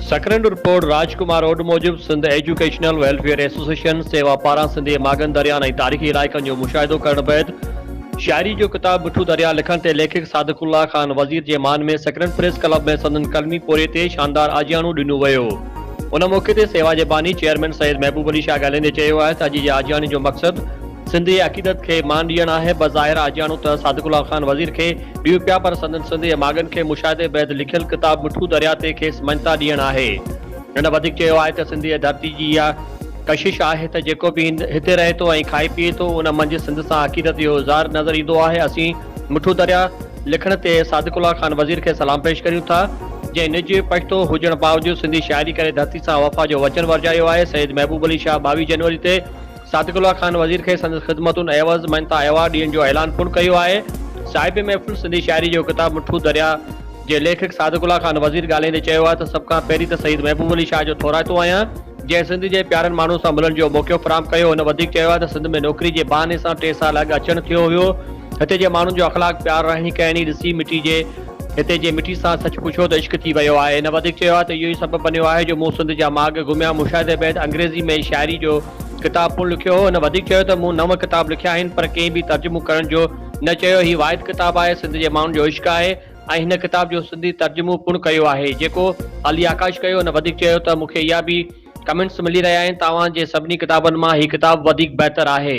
Sakrand report, Raj Kumar Odh موجب Sindh educational welfare association Sewa پاران سنڌي ماڳن درياهن ۽ تاريخي علائقن جو مشاهدو ڪرڻ بعد شاعري جو ڪتاب مٺو درياهه لکڻ تي ليکڪ صادق الله خان وزير جي مان ۾ سڪرنڊ پريس ڪلب ۾ سندن قلمي پورهيي تي شاندار آجياڻو ڏنو ويو. ان موقعي تي سيوا جي باني چيئرمين سيد محبوب علي شاهه ڳالهائيندي چيو آهي ته اڄ جي آجياڻي جو مقصد سنڌ جي عقيدت کي مان ڏيڻ آهي، بظاهر آجياڻو ته صادق الله خان وزير کي ڏيون پيا پر سندن سنڌ جي ماڳن کي مشاهدي بعد لکيل ڪتاب مٺو درياهه تي کيس مڃتا ڏيڻ آهي. هن وڌيڪ چيو آهي ته سنڌ جي ڌرتي جي اها. ڪشش آهي ته جيڪو به هتي رهي ٿو ۽ کائي پيئي ٿو ان منجهه سنڌ سان عقيدت جو اظهار نظر ايندو آهي اسين مٺو دريا لکڻ تي صادق الله خان وزير کي سلام پيش ڪريون ٿا جنهن نج پشتو هجڻ باوجود سنڌي شاعري ڪري ڌرتي سان وفا جو وچن ورجايو آهي سيد محبوب علي شاهه ٻاويهه جنوري تي صادق الله خان وزير کي سندس خدمتن عيوض مڃتا ايوارڊ ڏيڻ جو اعلان پڻ ڪيو آهي صاحب محفل سنڌي شاعري جو ڪتاب مٺو دريا جي ليکڪ صادق الله خان وزير ڳالهائيندي چيو آهي ته سڀ کان پهرين ته سيد محبوب علي شاهه جو ٿورائتو آهيان جنهن سنڌ جي پيارن ماڻهن سان ملڻ جو موقعو فراهم ڪيو هن وڌيڪ چيو آهي ته سنڌ ۾ نوڪري جي بهاني سان ٽي سال اڳ اچڻ ٿيو هيو هتي جي ماڻهن جو اخلاق پيار رهڻي ڪهڻي ڏسي مٽي جي هتي جي مٽي سان سچ پڇو ته عشق ٿي ويو آهي هن وڌيڪ چيو آهي ته اهو ئي سبب بنيو آهي جو مون سنڌ جا ماڳ گهميا مشاهدي بعد انگريزي ۾ شاعري جو ڪتاب پڻ لکيو هو هن وڌيڪ چيو ته مون نو ڪتاب لکيا آهن پر ڪنهن به ترجمو ڪرڻ جو نه چيو هي واحد ڪتاب آهي سنڌ جي ماڻهن جو عشق آهي ۽ هن ڪتاب جو سنڌي ترجمو پڻ ڪيو آهي جيڪو علي آڪاش ڪيو هن وڌيڪ چيو ته مون کي اها به ڪمينٽس ملي رهيا آهن ته اوهان جي سڀني ڪتابن مان هي ڪتاب وڌيڪ بهتر آهي.